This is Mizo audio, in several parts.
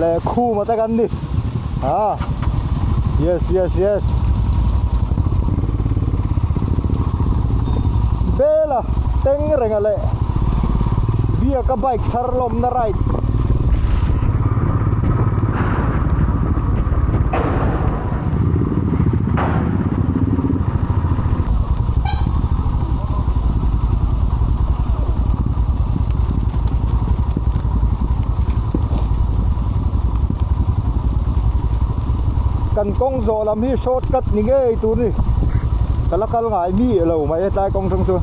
leh khuma te kan ni ah yes yes yes bela teng renga leh biaka bike thar lawmna right kan kawng zawh lam hi short cut ni ngei tur ni ka la kal ngai mi lo mai a hetlai kawng tang chuan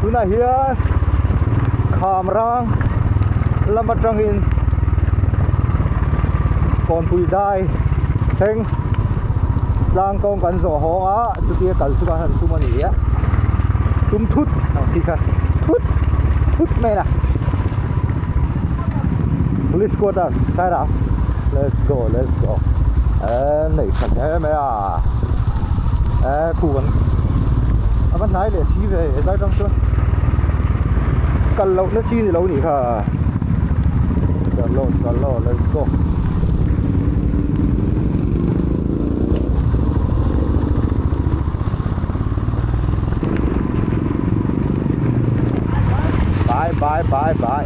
tunah hian khamrang lam atangin kawngpui dai thleng tlang kawng kan zawh hawng a chutia kal chu kan han tum a ni a tum thut ang chi kha thut thut mai a police quarter sairang let's go let's go Nei tha hle mai a eh khu kan a va hnai leh si ve e zai tang chuan kal loh na chi ni lo ni kha chalo chalo let's go bye bye bye bye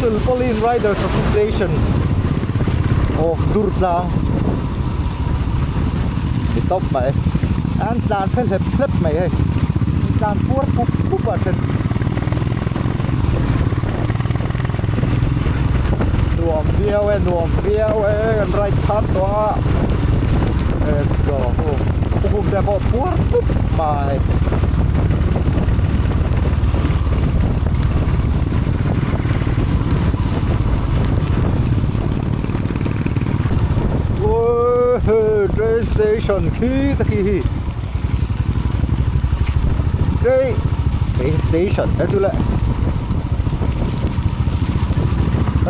Tulpawlin Riders Association of Durtlang ni tawp mah e an tlan phe hlep hlep mai hei tlan puar pup pup a then nuam viau e nuam viau e kan ride khat tawh a let's go hu khum te pawh puar pup mai train station khi ka ti hi train train station ka chu leh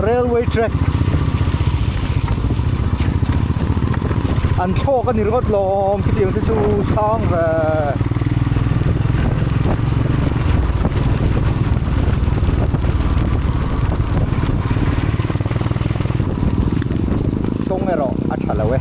railway track an thlawk a ni rawt lo. Awm khitiang te chu sang ve. Kawng erawh a tha lo e.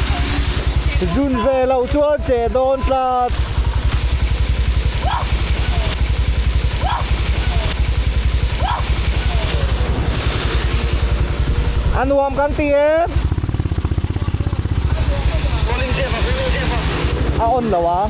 Zun ve loh chuan che dawn tlat. A nuam kan ti em? A on lo a.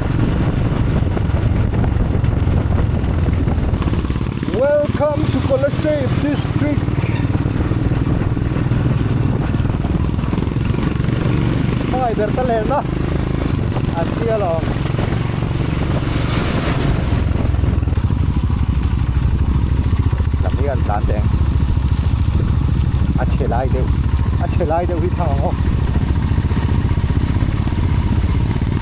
Welcome to Kolesay district. Mai ber ta leh na. A sia lo. Lamian tan te. A che lai deuh. A che lai deuh hi thang ang ho.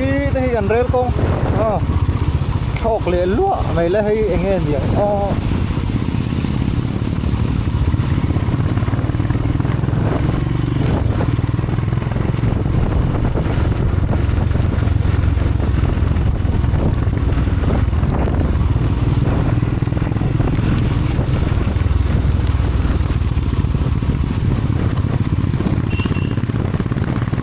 i te hi an rel kawng a thlawk leh luah mai la hei eng nge ni ang aw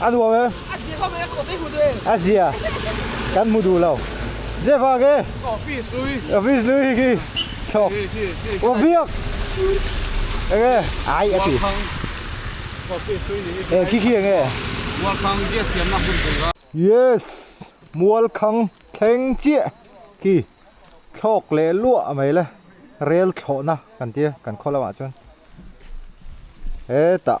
A nuam em? A zia hlawm em? Kawtei hmu duh em? A zia kan hmu duh lo. Zia vang e? Office lui. Office lui hi thlawk. Aw biak eng e? Ai a ti. Rualkhang office lui ni hi. E khi khi eng e? Mualkhang gas siamna hun vei va. Yes, Mualkhang thleng chiah khi thlawk leh luah mai le. Rel thlawhna kan tia kan khaw lamah chuan hetah.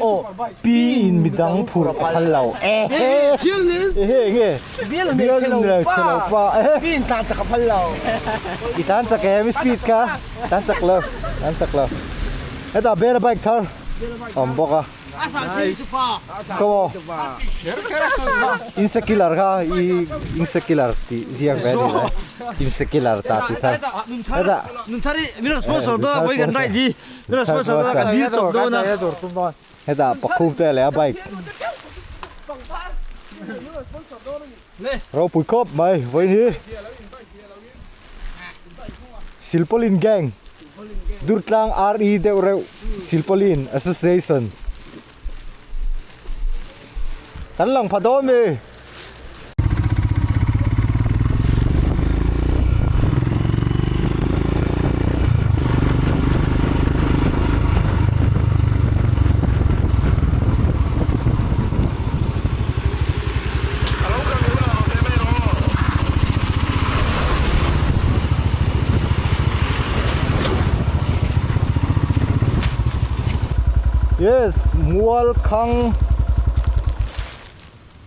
Aw, pi in mi dang phur a phal lo. Ehe! Thil ni. Ehe nge? Bial mek che lo pa. Ehe! Pi in tlan chak a phal lo. I tlan chak em i speed kha? Tlan chak lo, tlan chak lo. Heta bial a bike thar a awm bawk a. A sa si chu pa. Ko maw? Kher kher a sawi a. Insecular kha i insecular tih ziak ve a nih loh. Insecular ta ti thar. Heta. Nun thar hi min rawn sponsor dawn a, Vawigan Right hi. Hetah pakhum te leh a bike ropui khawp mai vawiin hi silpaulin gang durtlang RE deuhreuh silpaulin association. Kan lang pha dawn mi. yes mualkhang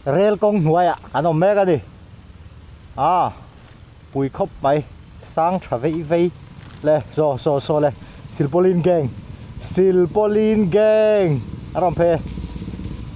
rel kawng hnuaiah an awm mek a ni a pui khawp mai sang tha vei vei le so so so le silpaulin gang silpaulin gang a rawn phei e.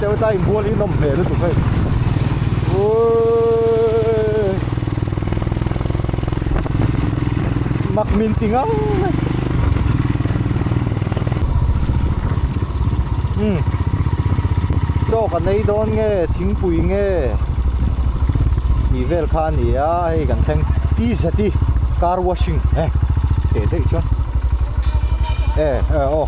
Cheu ta in bual hi nawm hmel lutuk hei uiiii mak min ti ngam mai umm chawk a nei dawn nge thingpui nge tih vel kha a nia hei kan thleng ti zet hi car washing eh teh daih chuan eh eh aw.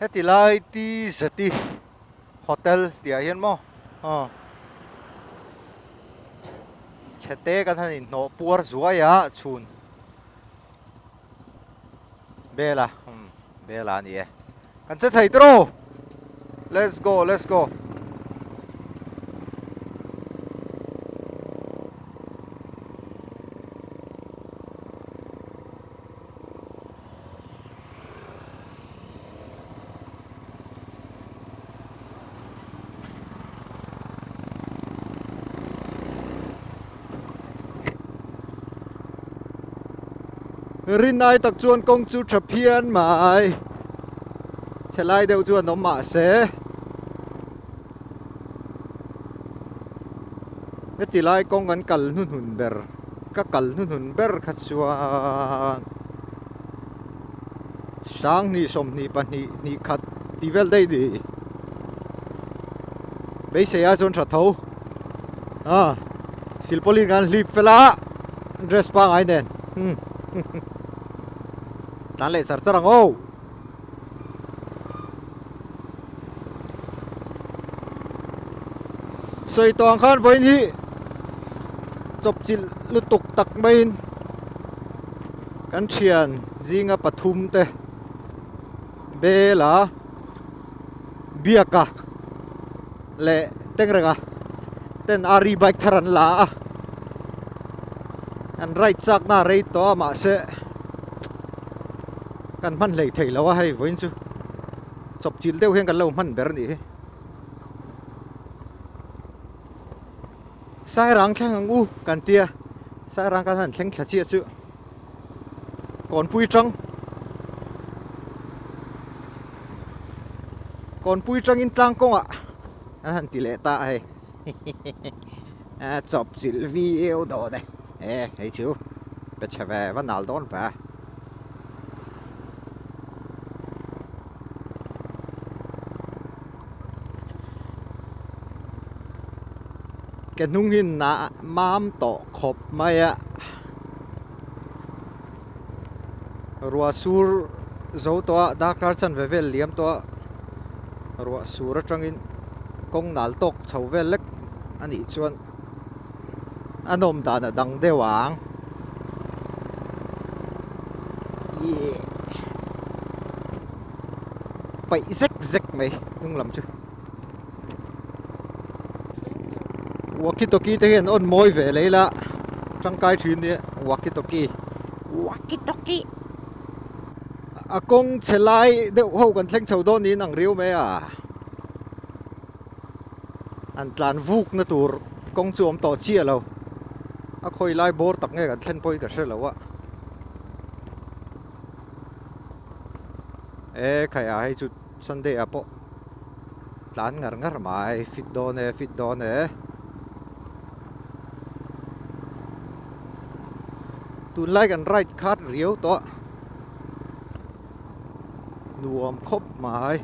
heti lai ti zeti hotel tia hian mo a ờ. chhete kan han in hnawh puar zuai a chhun Bela hmm Bela a ni e Kan che thei tiraw Let's go let's go rin ai tak chuan kawng chu tha phian mai chhelai deuh chu an awm mah se heti lai kawng an kal hnu hnun ber ka kal hnu hnun ber kha chuan. Sanghnih, sawmhnih, pahnih, hnikkhat tih vel daih ni. Beiseia chuan hra tho. Ha, silpawlin kan hlip fel a, dress pangai nen. Hmm. Tan leh char char ang o. Sawi tawng khan vawiin hi chawpchilh lutuk tak maiin. Kan thian zinga pathum te bela biaka leh tengrenga ten ari bike thar an la a an right chakna a rei tawh a mahse kan hman hlei thei lo a hei vawiin chu chawp chilh deuh hian kan lo hman ber a nih hi. Sairang thleng ang u kan ti a, Sairang khan han thleng thla chiah chu. Kawnpui tang, Kawnpui tangin tlang kawngah an han ti leh ta a hei. A chawp chilh viau dawn e. E hei chu pe chhe ve va nal dawn ve. Ka hnung hi na mam tawh khawp mai a, ruah sur zo tawh a, darkar chan ve vel liam tawh a, ruah sur atangin kawng nal tawk chho vel lek a nih chuan. An awm dan a dang deuh ang. Paih zek zek mai hnunglam chu. Walkie talkie te hian on mawi ve lei la. Tangkai thin ni walkie talkie. Walkie talkie. A kawng chelai deuh ho kan thleng chho dawn niin ang riau mai a. An tlan vukna tur kawng chu awm tawh chiah lo. A khawi lai bawr tak nge kan thlen pawh hi ka hre lo a. E khai a hei chu Sunday a pawh tlan ngar ngar mai fit dawn e fit dawn e. Tunlai kan ride khat riau tawh. nuam khawp mai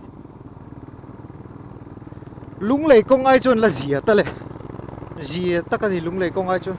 lunglei kawng ai chuan la zia ta le zia ta ka ni lunglei kawng ai chuan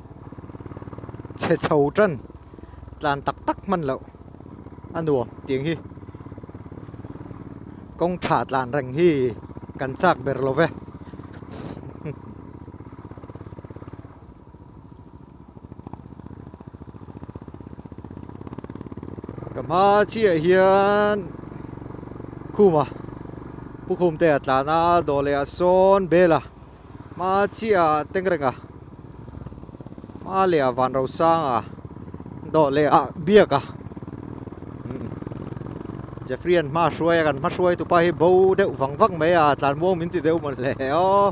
chhe chho tan tlan tak tak hman loh a nuam tiang hi kawng tha tlan reng hi kan chak ber lo ve ka hma chiah hian khuma pukhum te a tlana dawleh ah sawn bela Hma chia Tengrenga, hma leh a Vanrosanga, dawh leh a Biaka. Jeffrey an hma hruai a kan hma hruai tupa hi bo deuh vang vang mai a tlan muang min ti deuh man hle o.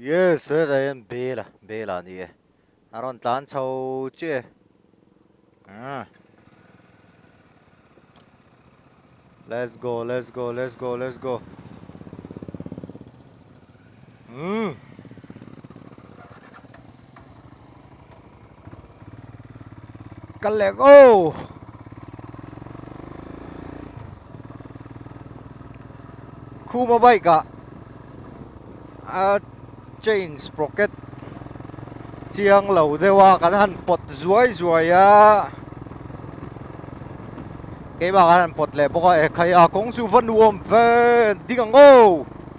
Yes, he zai hian bela bela a ni e. A rawn tlan chho che. Ah. Let's go, let's go, let's go, let's go. Mm. ka lek o khuma bike ah a chain sprocket chiang lo deuh a kan han pawt zuai zuai a keimah kan han pawt leh bawk a e khai a kawng chu va nuam ve ding ang o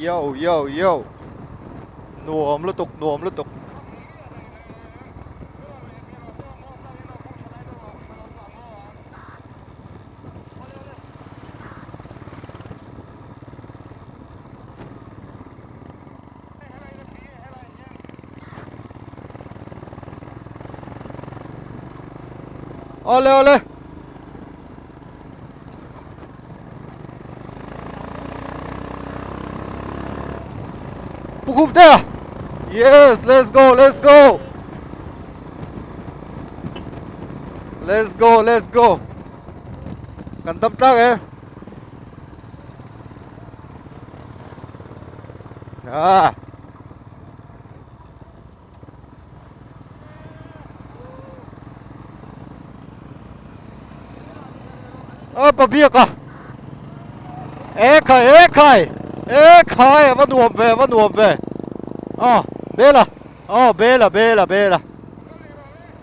Yo, yo, yo. Nuam lutuk, nuam lutuk. Ole ole. Pukup there. Yes, let's go, let's go. Let's go, let's go. Kan tam tak eh. Ah! Oh, pabiak ah! Eh, khai, eh, khai! Eh, khai, ava nuam ve, ava nuam ve. Oh, bela. Oh, bela, bela, bela.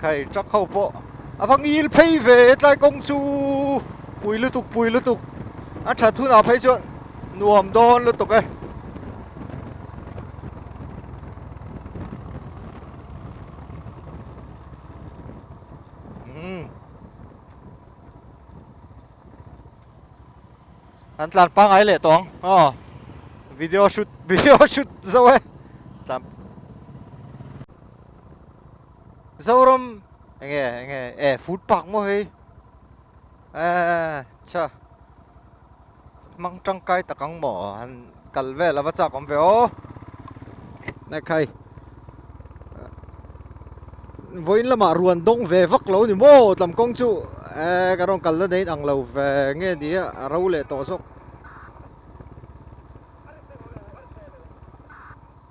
Khai truck ho pawh a va ngil phei ve tlai kawng chu pui lutuk pui lutuk a that hunah phei chuan nuam dawn lutuk e hmm. an tlan pangai leh tawng oh video shoot video shoot zo e tlan Zoram enge enge e food park mo hei a cha mang tang kai takang mo han kal ve lova chak om ve o na khai voin lama ruan dong ve vak lo ni mo tlam kong chu e ka rong kal na dein ang lo ve nge ni a ro le to zok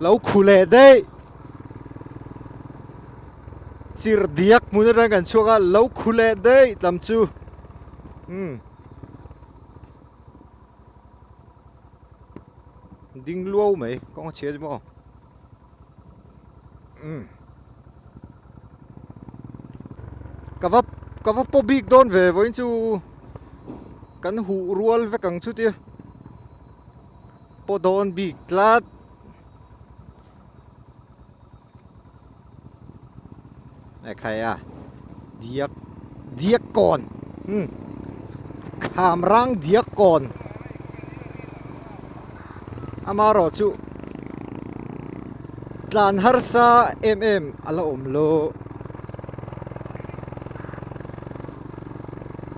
Lo khu leh daih. Chir diak hmun atang kan chhuak a lo khu leh daih tlam chu. Hmm. Ding luau mai kong chhe mo. Hmm. Ka va ka va po bik don ve voin chu kan hu rual vek ang chu tia. Pawh dawn bik tlat. Ekhai a. Diak. Diak kon. Hmm. Kham rang diak kon. Ama ro chu. Tlan har sa em em ala om lo.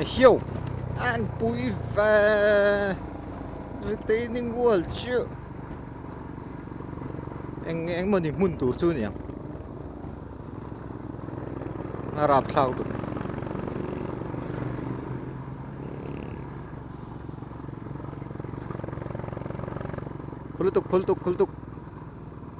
a hio an pui ve retaining wall chu eng eng mawni hmun tur chu niang a rap thlak duh khul tuk khul tuk khul tuk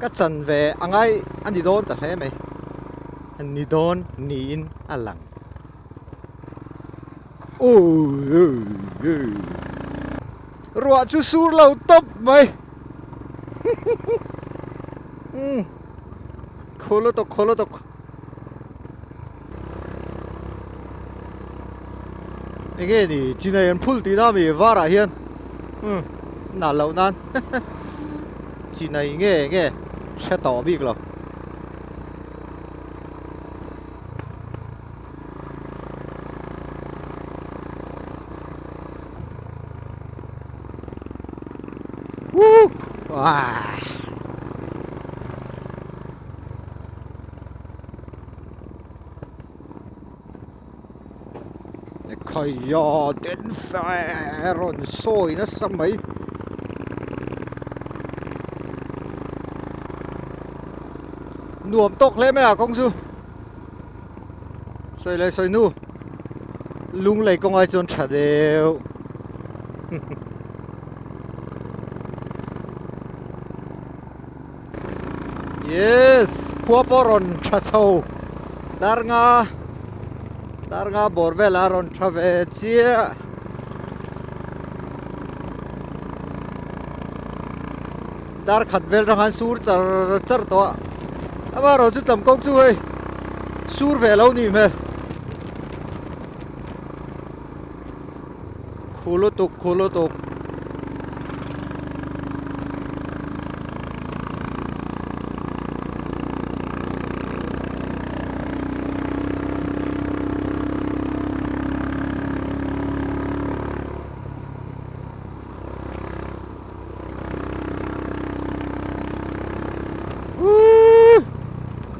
ka chan ve a ngai a ni dawn ta hle mai ni dawn niin a lang ruah chu sur lo tawp mai khawla tawk khawla tawk Enge ni chinai an phul tih na mi varah hian um na lo nan chinai nge nge hre tawh bik lo Woo! Ah. Kaya den fer on soi na sa mai nuam tok hle mai à kong chu soi lei soi nu lung lei kong ai chuan tha deu yes khua pawh rawn tha chho darnga darnga bawr vela rawn tha ve chiah dar khat vel rawn han sur char char tawh a ama rawn chu tlam kawng chu hei sur ve lo nih hmel. Khu lutuk khu lutuk.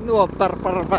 Nuap par par va.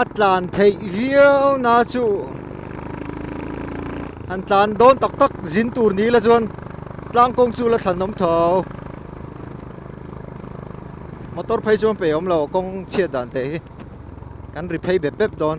a tlan theih viau na chu an tlan dawn tak tak zin tur ni ila chuan tlang kawng chu la thlan awm tho motor phei chu pe awm lo kawng chhiat dan teh hi kan ri phei bep bep dawn.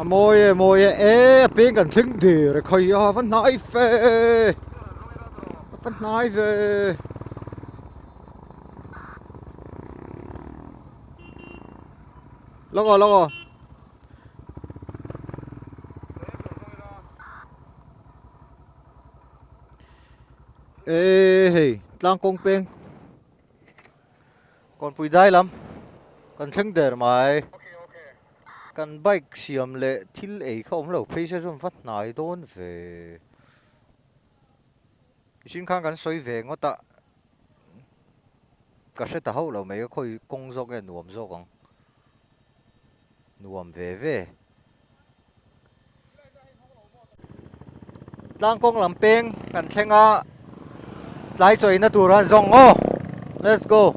a mawi e mawi e e a peng kan thleng der e khai a va hnai fe va hnai ve lawk aw lawk aw Ê hei, tlang kawng peng. Kawnpui dai lam. Kan thleng der mai. Kan bike siam le thil ei kha awm lo phei se chuan va hnai dawn ve. Mihring khan kan sawi ve ngawt a. Ka hre ta hauh lo mai a khawi kawng zawk nge nuam zawk ang. nuam ve ve. Tlang kawng lam peng kan thleng a, tlai chawihna tur an zawng aw. Let's go.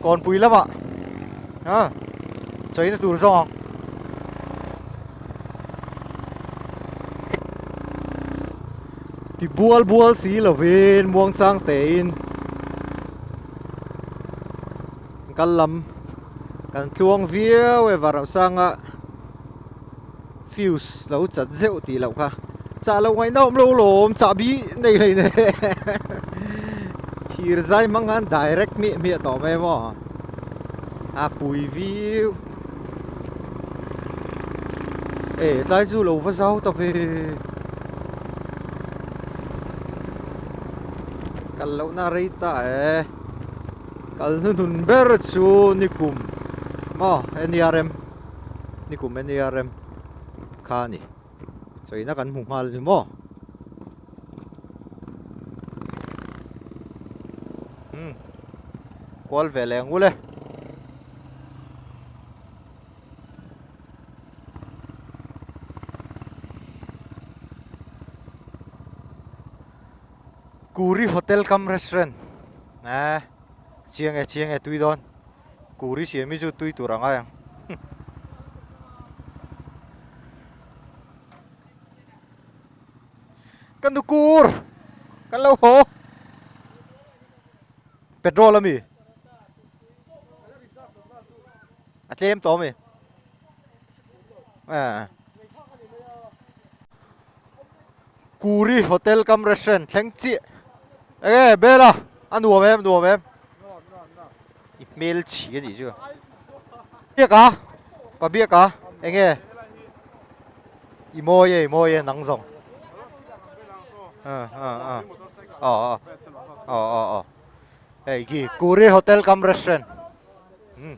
Kawnpui lama ha chawihna tur zawng ang. Ti bual bual si lovin muangchang tein Kal lam kan tluang viau e Varausaanga fuse lo chat zeuh tih loh kha Chah lo ngaihna awm lo lawm Chah bi nei hlei nei Thir zai hmanga direct hmiah hmiah tawh mai emaw A pui viau E tlai chu lo va zau ta ve Kal lohna rei ta e Kal hnu hnun ber chu nikum maw nerm nikum nerm kha a ni chawina kan hmu nghal a ni maw hmm kual ve leng ul e Kuri hotel kam restaurant eh chiang nge chiang nge tui dawn kuri siam hi chu tui tur ang ai ang kan du kur kan lo ho petrol ami A tlem tawh mi. Eh. Kuri hotel kam restaurant thleng chiah. Eh, bela. A nuam em, nuam em. I hmel chi ani chu. Biak a. Pa biak a. Enge. I mawi e, i mawi e nang zawng. Ah, ah, ah. Oh, oh. Oh, oh, oh. Hey, gi. Kuri hotel kam restaurant. Hmm.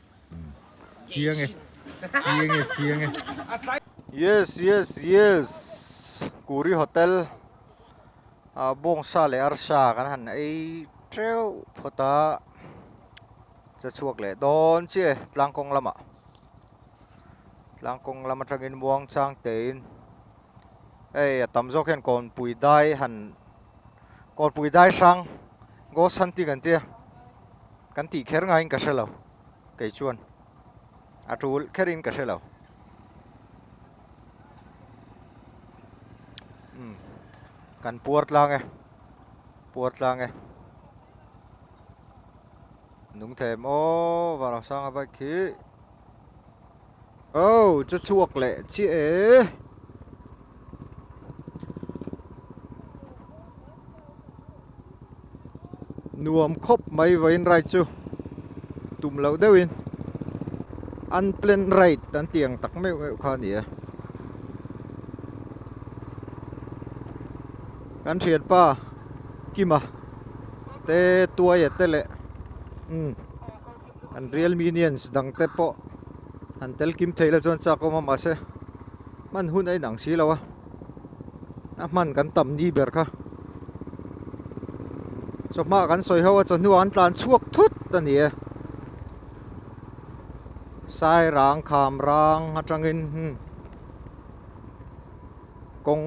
Chiang e. Chiang e, chiang e. Yes, yes, yes. Kuri Hotel. A bawng sa leh ar sa kan han ei treuh phawt a. Che chhuak leh dawn chi e tlang kawng lamah. Tlang kawng lam atangin Muangchang tein. Hei a tam zawk hian Kawnpuidai han. Kawlpui Daihrang, Ghost hunting an tia, kan tih kher ngaiin ka hrelo, kei chuan a tul kherin ka hrelo. Um, kan puar tlang e, puar tlang e. Nung thei em o, Vanrosanga bike khi. Oh chu chhuak leh chiah e. Nuam khawp mai vain right chu. Tum lo deuh in. Unplanned right an tiang tak meuh meuh kha ni e. Kan thian pa kima te tuai e te le. Um. Kan real minions dang te pawh han tel kim theih la chuan chak awm a mahse hman hun a inang si lo a a hman kan tam ni ber kha chawhma kan sawi ho a chawhnu ah an tlan chhuak thut a ni e sai rang kham rang atangin hmm. kawng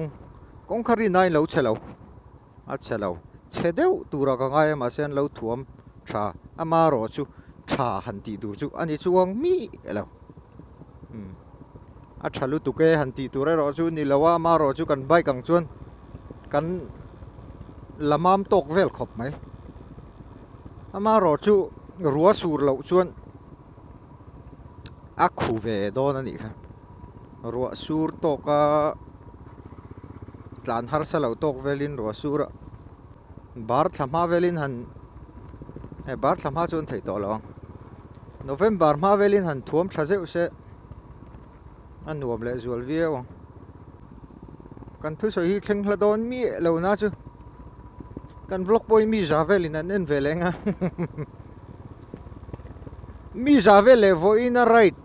kawng kha rin ain lo che lo A chhe lo. Chhe deuh tura ka ngai a mahse an lo thuam tha. Ama rawh chu tha han tih tur chu a ni chuang mih lo. Umm. A tha lutuk e han tih tur erawh chu ni lo a, ama rawh chu kan bike ang chuan kan la mam tawk vel khawp mai. Ama rawh chu rua sur loh chuan a khu ve dawn a nih kha ruah sur tawk a tlan harsa lo tawk vel in ruah sur ah bar thla hma vel in han he bar thla hma chu an theih tawh lo ang november hma vel in han thuam tha zeuh se. a nuam leh zual viau ang kan thusawi hi thleng hla dawn mieh lo na chu kan vlog pawh hi mi za velin an en ve leh ang a mi za vel leh vawiin a right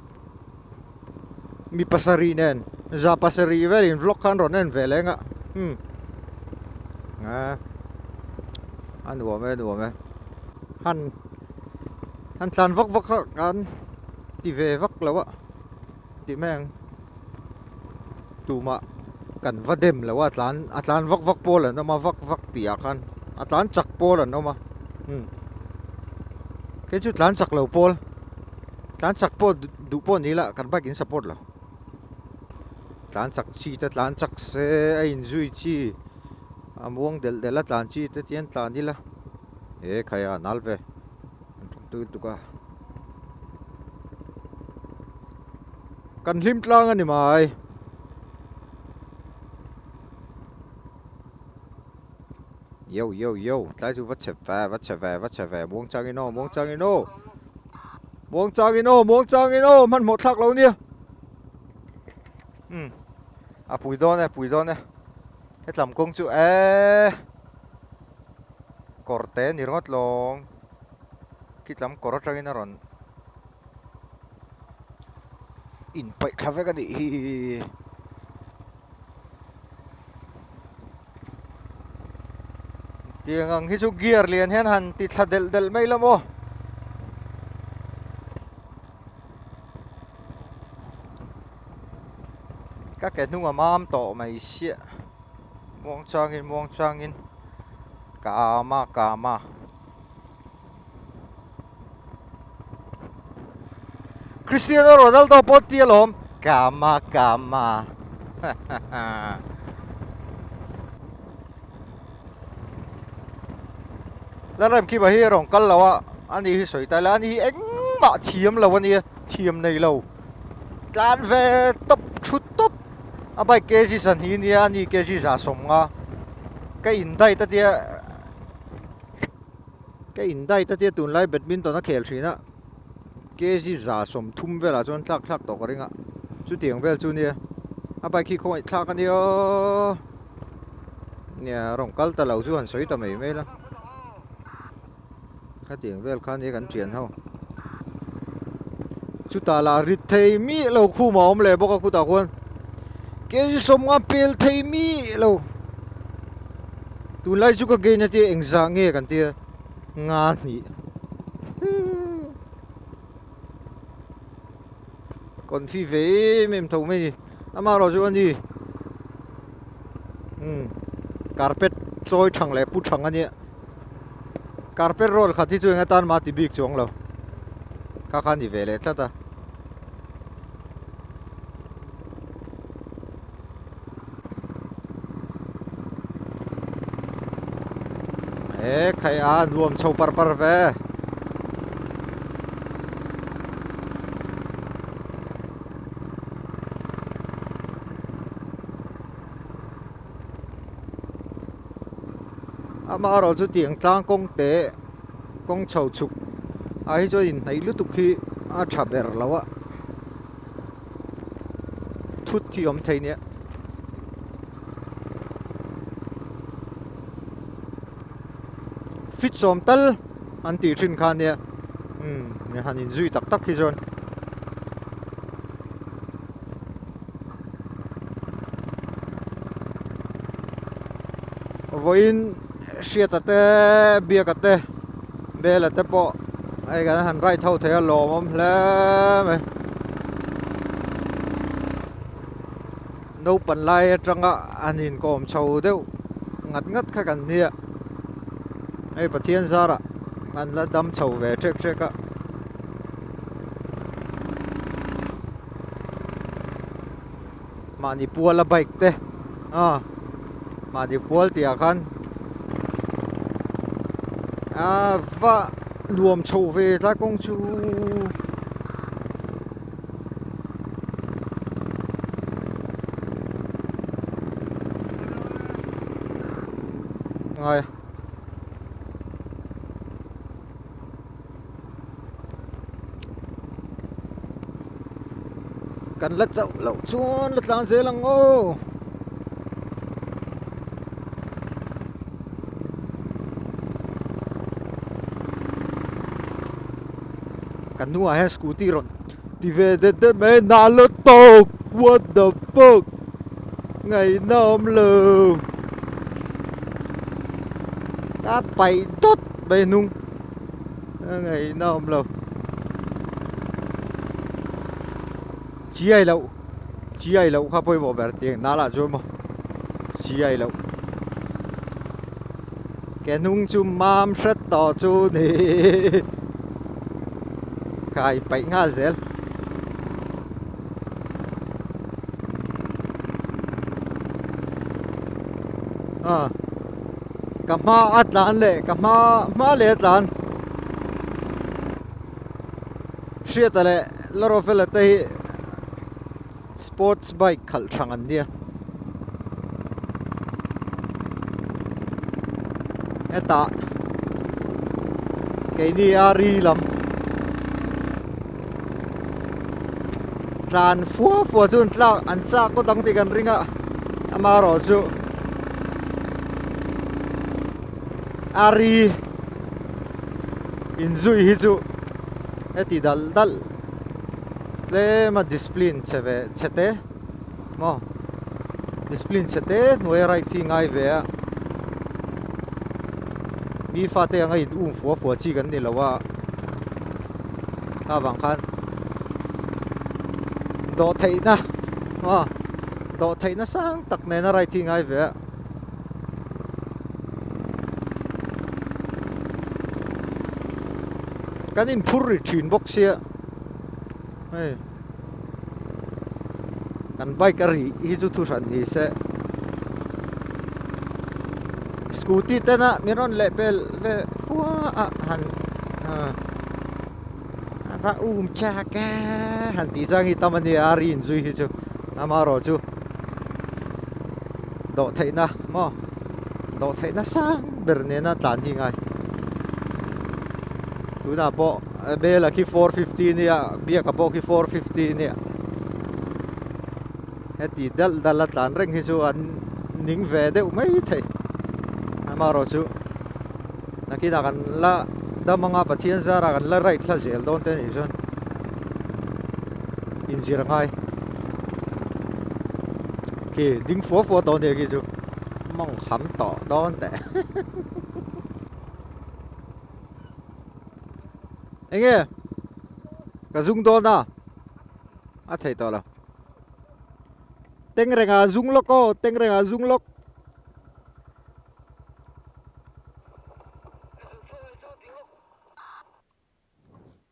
mi pasarih nen za pasarih velin vlog khan rawn en ve leh ang a hmm a a nuam e a nuam e han han tlan vak vak kha kan ti ve vak lo a Ti meng. Tumah kan va dem lo a tlan a tlan vak vak pawl an awm a vak vak tih ah khan a tlan chak pawl an awm a um kei chu tlan chak lo pawl tlan chak pawh duh pawh ni lah kan bike in support lo tlan chak chi te tlan chak se a in zui chi a muang del del a tlan chi te chian tlan ila e khai a nal ve Tui tuk a. Kan hlim tlang a ni mai. Yo yo yo, tlai chu va chep ve, va chep ve, va chep ve. Muang chang in o, muang chang in o. Muang chang in o, muang chang in o, man mo thlak lo nia. Um. A pui don e, pui don e. He tlam kong chu e. Korte ni rawt long. Khitlam kawr atangin a rawn inpaih thla vek a nih hi. Tiang ang hi chu gear lian hian han ti thla del del mai la maw. Ka ke hnunga mam tawh mai sia. Muang changin muang changin. Ka ama ka ama. Cristiano Ronaldo pawh ti alawm kama kama Lanrem Kim hi rong kal lo a ani hi sawi tai la ani hi engmah thiam lo ania thiam nei lo tlan ve top thu top a bike kg san hi nia ani kg za sawm nga ka in dai ta tia ka indai ta tia tunlai badminton a khel thin a kg za sawmthum velah chuan thlak thlak tawh ka ring a chutiang vel chu nia a bike hi khawngaih thlak a nia nia rawn kal ta lo chu han sawi ta mai mai la hetiang vel khan hi kan thian ho chuta la rit thei mi lo khuma awm leh bawk a kutah khuan kg sawmnga pel thei mi lo Tunlai chu ka gain atia engzah nge kan tia nga hnih confuse ve em em tho mai ni amarawh chu ani um carpet chawi thang leh pu thang ania carpet roll khat hi chu enga tan mah ti bik chu ang lo kha khan ni ve leh tlat a e khai a nuam chho par par ve ama erawh chu tiang tlang kawng te kawng chho chhuk ai chu a inhnaih lutuk hi a tha ber lo a. thut thi awm thei nia. Fit sawm tal an tih thin kha nia. Hmm, ni han in zui tak tak hi zawn. Vawiin Hriata te biaka te bela te pawh hei kan han right ho thei a lawm awm hle mai naupang lai atanga an inkawm chho deuh ngat ngat kha kan nia hei pathian zarah an la dam chho ve hrek hrek a mahni puala bike te a mahni pual tih ah khan a va nuam chho ve ta kawng chu ngai kan la chauh loh chuan la tlan zel ang aw kan hnungah hian scooty rawn ti ve det det mai a nal la tawk what the fuck ngaihna awm lo a paih dawt. Bai hnung a ngaihna a awm lo. Chi ai loh, chi ai loh kha pawimawh ber tih ang nala chu maw. Chi ai loh. Ke hnung chu mam hret tawh chu ni. Kai paih nghal zel. Ah. ka hma a tlan leh ka hma hma leh a tlan hriata leh la rovela te hi sports bike khalh thrang an nia heta keini a ri lam tlan fuah fuah chu an tlak an chak kaw dang tih kan ring a ama erawh chu ari inzuih hi chu heti dal dal tlema discipline che ve chete. Maw? Discipline chhe te hnuaia right hi ngai ve a. Mi fate anga in um fua fua chi kan ni lo a. Ta vang khan do thei na. Maw? Do thei na sang tak nena right hi ngai ve a. Kan in phur ri thin bok sia. Hey. kan bike a rih hi chu thu hran ni se scooty tena min rawn leh pel ve fuah a han va um chak a han tih chang hi tam ania a ri in zui hi chu amarawh chu dawh theihna maw dawh theihna sang ber nena tlan hi ngai tunah pawh A bela khi four fifty nia biaka pawh khi four fifty nia heti dal dal a tlan reng hi chu an ning ve deuh mai thei amaro chu nakina kan la damanga pathian zara kan la right hla zel dawn te ni chuan inzir ngai khi ding fo fo dawn hi chu mong kham tawh dawn te enge ka zung dawn a a thei tawh lo teng renga zung lawk aw teng renga zung lawk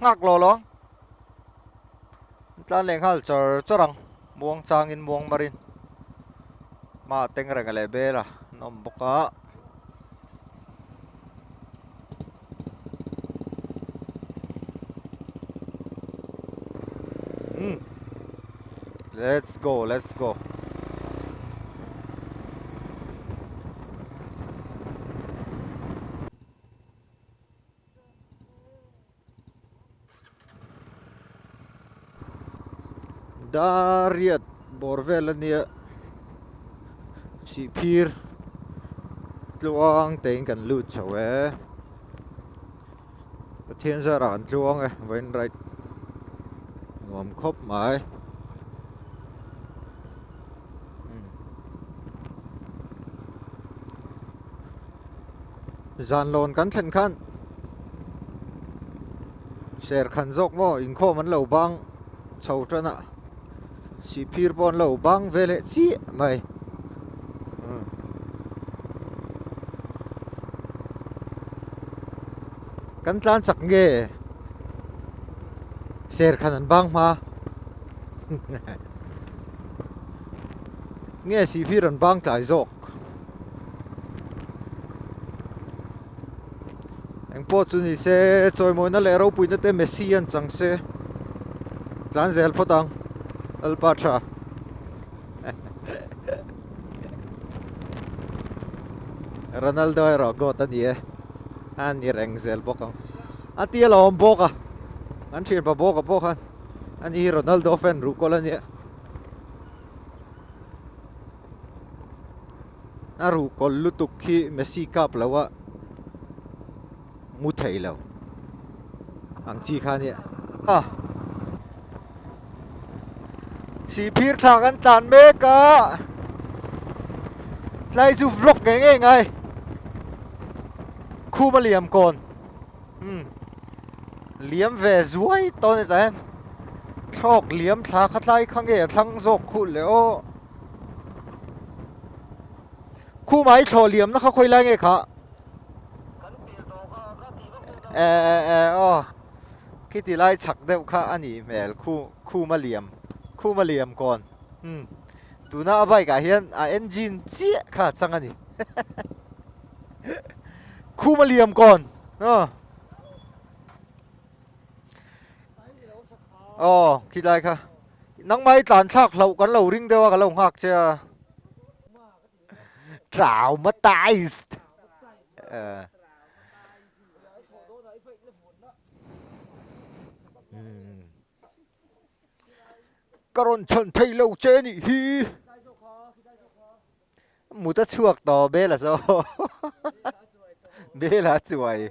Nghak law law tlan leh nghal chawr chawr ang muang chang in muang mar in hma teng reng leh bel ah an awm bawk a hmm let's go let's go Dariat bawr vel ania chhihphir tluang tein kan lut chho e Pathian zara kan tluang e vain right nuam khawp mai zan lawn kan thlen khan ser khan zawk maw inkhawm an lo bang chho tana sihphir pawh an lo bang ve leh chiah mai hmm. kan tlan chak nge ser khan an bang hma nge sihphir an bang tlai zawk eng pawh chu ni se chawimawina leh ropuina te Messi a chang se tlan zel phawt ang Alpa tha Ronaldo erawh goat a ni e a ni reng zel bawk ang a ti ala awm bawk a an thian pa bawk a pawh khan ani hi Ronaldo fan ruhkawlh a nia a ruh kawl lutuk khi Messi kap loh a mu thei lo ang chi kha nia a si phir thla kan tlan mek a tlai chu vlog nge nge ngai khuma liam kon hmm liam ve zuai ton ta hen thlawk liam thla kha tlai kha nge a thlang zawk khulh leh aw khu mai thlawh liam na kha khoi lai nge kha e e e o khi ti lai chak deuh kha ani hmel khu khu ma liam khu ma liam kon um tuna a bike ah hian a engine chiah kha chang ani khu ma liam kon ha o khi lai kha Nangmah i tlan thlak hlauh kan lo ring deuh a ka lo nghak che a. Traumatized. Uh. Hmm. Ka ron chhan thei lo che ni hi. Muta chuak to bela zo. Bela chuai.